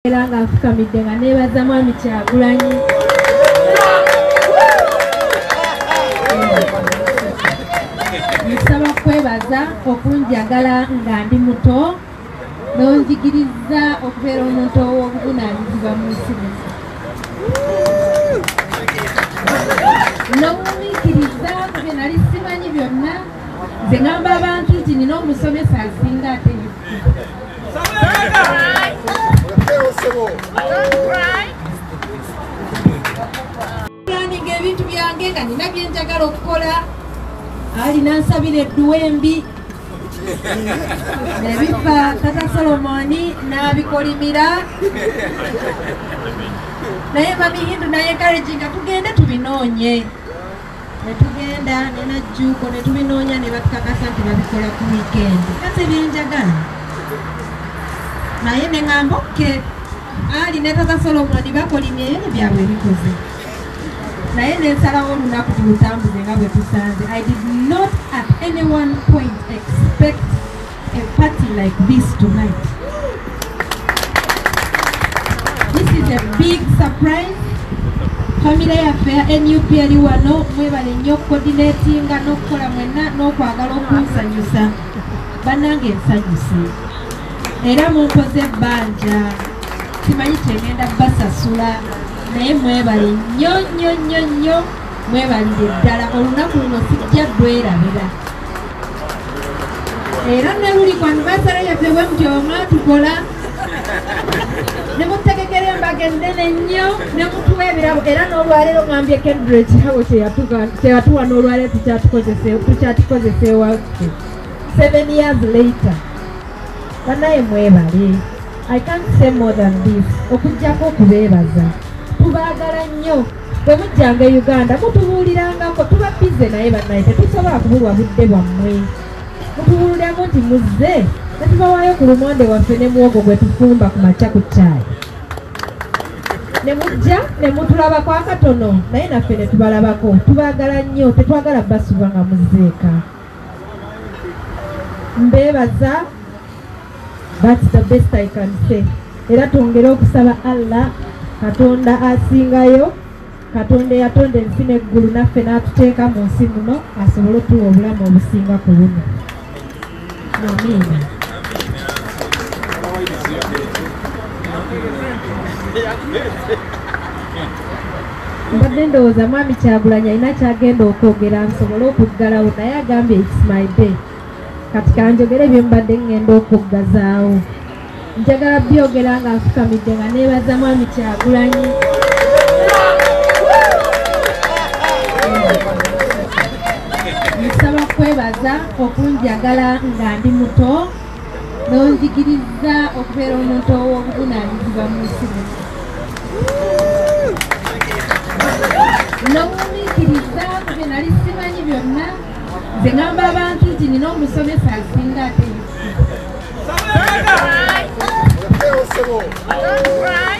era nga afukamidde nga nebaza mwami kyagulanyi nsaba kwebaza okunjagala nga ndi muto nonjigiriza okubeera omuntu ow'obuvunanyizibwa mu nsi muno nomumiikiriza kubye nali simanyi byonna nze ngamba abantu nti nina omusomesa asinga ate ebintu byange nga nina byenjagala okukola ali nansabira edduwa embi nebifa tata solomoni nabikolimira naye mamihindu naye karejinga tugende tubinoonye ne tugenda ne najjuuko ne tubinoonya ne batukakasa nti babikola ku wiikendi nga tebyenjagala naye ne ŋamba okke ali ne tata solomoni bakolimye ebyo byabwe bikoze naye nensalawo olunaku tulutambuze nga bwe tusanze i did not at any one point expect A party like this tonight. This is a big surprise. Family yaffe ya nup eri wano mwebale nnyo okukoordinatinga n'okukola mwenna n'okwagala okunsanyusa bannange nsanyuse era munkoze ebbanja simanyi kyegenda basasula naye mwebale nnyo nnyo nnyo nnyo mwebalire ddala olunaku luno sijja lwerabira era neluli ku anivasale yaffe bwe mutyo mwatukola ne mutegekera embaga ennene nnyo ne mutuwa ebirabo era n'olwaleero ngambye kendra ekirabo kyeyatuwa n'olwaleero tukyatukozesa ewaffe seven years later banaye mwebale i can't say more than this okujjako okubeebaza tubaagala nnyo bwe mujjanga e uganda mutubuulirangako tuba bize naye bannaye tetusobola kubulwa budde bwammwe mutubuulirako nti muzze netubawaayo ku lumonde waffe ne muwogo gwe tufumba ku makya ku caayi ne mujja ne mutulabako akatono naye naffe ne tubalabako tubaagala nnyo tetwagala basuba nga muzzeeka mbeebaza thats the best i can say era twongere okusaba allah katonda asingayo katonda eyatonda ensi neggulu naffe n'atuteeka mu nsi muno asobole otuwa obulamu obusinga ku buno amiina Yeah. mbadde ndowooza mwami kyagulanyi alina kyagenda okwogera nsobole okuggalawo naye agambye its my day kati kanjogere bye mbadde ŋŋenda okuggazaawo njagala byogera nga nfukamidde nga neebaza mwami kyagulanyi nsaba kwebaza okunjagala nga ndi muto n'onzikirizza okubeera omuntu ow'obuvunaanyizibwa mu nsi n'omumiikiriza ku bye nali simanyi byonna nze ngamba abantu nti nina omusomesa asinga ate Right.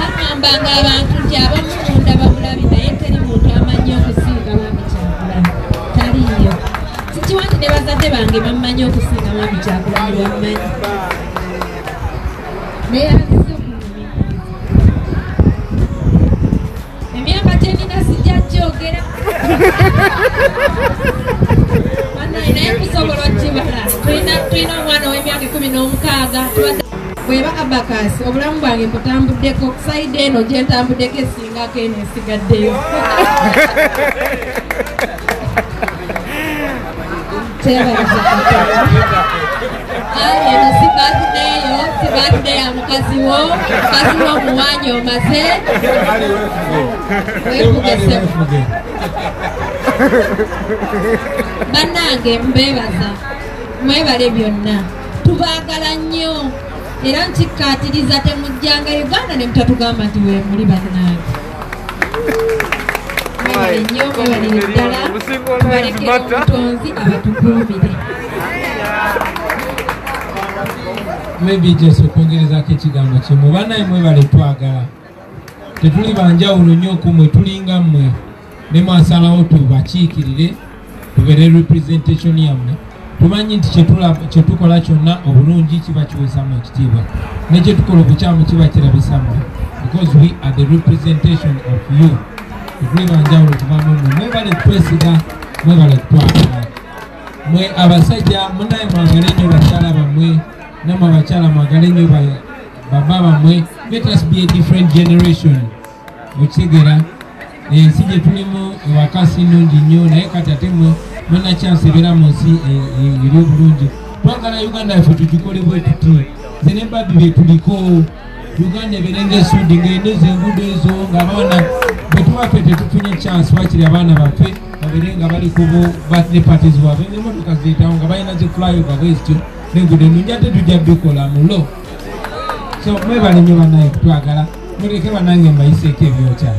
bagamba abantu nti abamu munda babulabi naye teri muntu amanyi okusinga mwami kyakula taliyo sikiwa nti ne bazadde bange bammanyi okusinga mwami kyakula nebammanyi naye emyaka gyemina sijja gyogera banaye naye kusobola okibala tulina omwana ow'emyaka ekumi n'omukaaga bweba abakasi obulamu bwange mbutambuddeko saidi eno gyentambuddeko esingako eno esigaddeyo Kyebaza Katonda. Kale eno si birthday yo, si birthday ya mukazi wo, mukazi wo omuwaanya omaze. Weefuge ssebo. Bannange mbeebaza, mwebale byonna. Tubaagala nnyo era nkikkaatiriza temujjanga Uganda ne mutatugamba nti weemuli bannange. mwebale nnyo mwebalire ddala tubalekere omutonzi abatukuumire maybe just okwongerezako ekigambo kimu banaye mwebale twagala tetuli banjawulo nnyo kumwe tulinga mmwe ne mwasalawo tubakiikirire tubere representation yamwe tumanyi nti kyetukola kyonna obulungi kiba kiwesamu ekitiibwa nekyetukola obukyamu kiba kirabisamu because we are the representation of you ekuli banjawulo kuvamumu mwebale kutwesiga mwebale kutwagala mwe abasajja munaye mwagale nyo bakyala bamwe namwe abakyala mwagale nyo baba bamwe let us be a different generation okitegera ensi gye tulimu ewaka si nnungi nnyo naye kati ate mwe munakyansi ebeera mu nsi e, e, eri obulungi twagala uganda yaffe tugikole bwe tuti ze ne babi bye tuliko uganda ebeere ngaesuudi ng'eno ezo enguudo ezo ng'abaana bwe tuba ffe tetufunye kyansi wakiri abaana baffe babeere nga bali ku birthday parties waabwe ng'emotoka zeetawo nga balina ze flyover bwezityo nenguudo ennungi ate tujja bikola mulo so mwebale nnyo banaye kutwagala muleke banange mbayiseeko ebyokya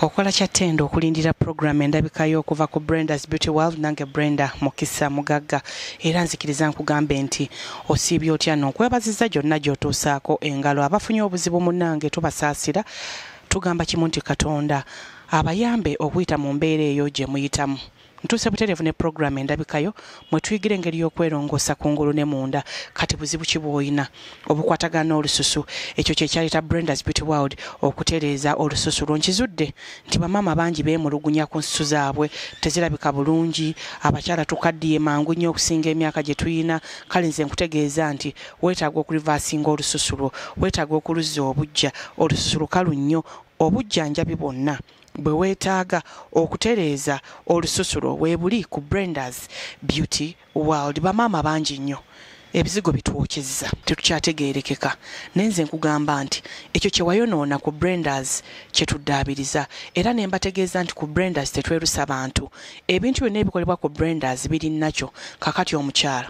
okola kyattenda okulindira pulogulaamu endabikayo okuva ku brendas beauty world nange brenda mukisa mugagga era nzikiriza nkugambe nti osiibye otya nonkwebaziza gyonna gyotuusaako engalo abafunye obuzibu munange tubasaasira tugamba kimu nti katonda abayambe okuyita mu mbeera eyo gye muyitamu ntuuse butereevu ne pulogulaamu endabikayo mwe tuyigira engeri y'okwerongoosa ku ngulu ne munda kati buzibu ki bw'olina obukwatagana n'olususu ekyo kye kyaleeta brendas beauty world okutereeza olususu lwo nkizudde nti bamaama bangi beemulugunya ku nsusu zaabwe tezirabika bulungi abakyala tukaddiye mangu nnyo okusinga emyaka gye tulina kale nze nkutegeeza nti weetaaga okulivaasinga olususu lwo weetaaga okuluzza obujja olususu lukalu nnyo obujjanjabi bwonna bwe weetaaga okutereeza olususu lwo weebuli ku Brenda's Beauty World. Bamaama bangi nnyo ebizigo bitwokyezza tetukyategeerekeka naye nze nkugamba nti ekyo kye wayonoona ku Brenda's kye tuddaabiriza era ne mbategeeza nti ku Brenda's tetwerusa bantu ebintu byonna ebikolebwa ku Brenda's biri nakyo kakati omukyala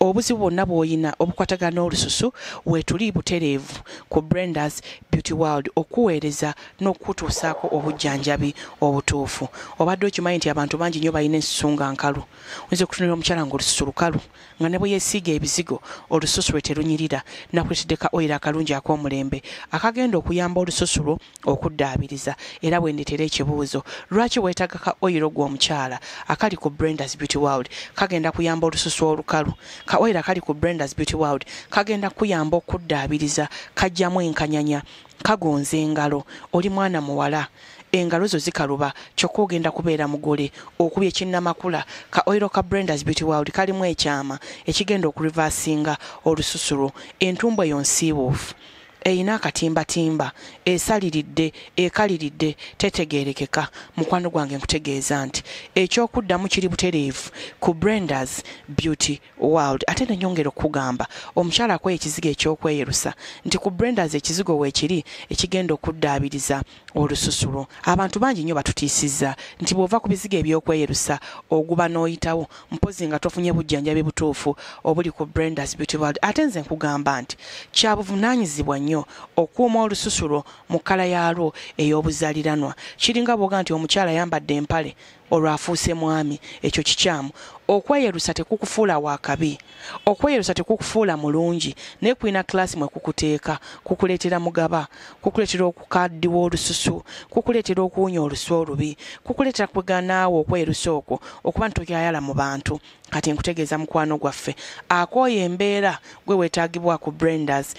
Obuzibu bwonna bw'oyina obukwatagana n'olususu weetuli butereevu ku Brenda's Beauty World okukuweereza n'okukutuusaako obujjanjabi obutuufu. Obadde okimanyi nti abantu bangi nnyo balina ensusu nga nkalu? Oyinza okutunuulira omukyala ng'olususu lukalu nga ne bwe yeesiiga ebizigo olususu lwe terunyirira. Nakuleetedde ka oyiro akalungi ak'omulembe akagenda okuyamba olususu lwo okuddaabiriza era bwendetera ekibuuzo lwaki weetaga ka oyiro gwe omukyala akali ku brendas beauty world kagenda kuyamba olususu olukalu ka oyiro akali ku brendas beauty world kagenda kuyamba okuddaabiriza kajjamu enkanyanya kagonza engalo oli mwana muwala engalo zo zikaluba kyokka ogenda kubeera mugole okubya ekinnamakula ka oiro ka brendas beauty world kalimu ekyama ekigenda okurivasinga olususu lwo entumbwa eyo nsiibuufu eyina akatimbatimba esaliridde ekaliridde tetegeerekeka mukwano gwange nkutegeeza nti ekyokuddamu kiri butereevu ku brendas beauty world ate nenyongera okukugamba omukyala akoye ekizigo ekyokweyerusa nti ku brendas ekizigo weekiri ekigenda okuddaabiriza olususu lwo abantu bangi nnyo batutiisizza nti bw'ova ku bizigo eby'okweyerusa oguba n'oyitawo mpozi nga tofunye bujjanjabi butuufu obuli ku brendas beauty world ate nze nkugamba nti kya buvunaanyizibwa nnyo okuuma olususu lwo mu kkala yaalwo ey'obuzaaliranwa kiringa bwoga nti omukyala ayambadde empale olwo afuuse mwami ekyo kikyamu okweyerusa tekukufuula wakabi okweyerusa tekukufuula mulungi naye kulina kulaasi mwe kukuteeka kukuleetera mugaba kukuleetera okukaddiwa olususu kukuleetera okuwunya olusu olubi kukuleetera kweganaawo okweyerusa okwo okuba ntokyayala mu bantu kati nkutegeeza mukwano gwaffe akooye embeera gwe wetaagibwa ku brenders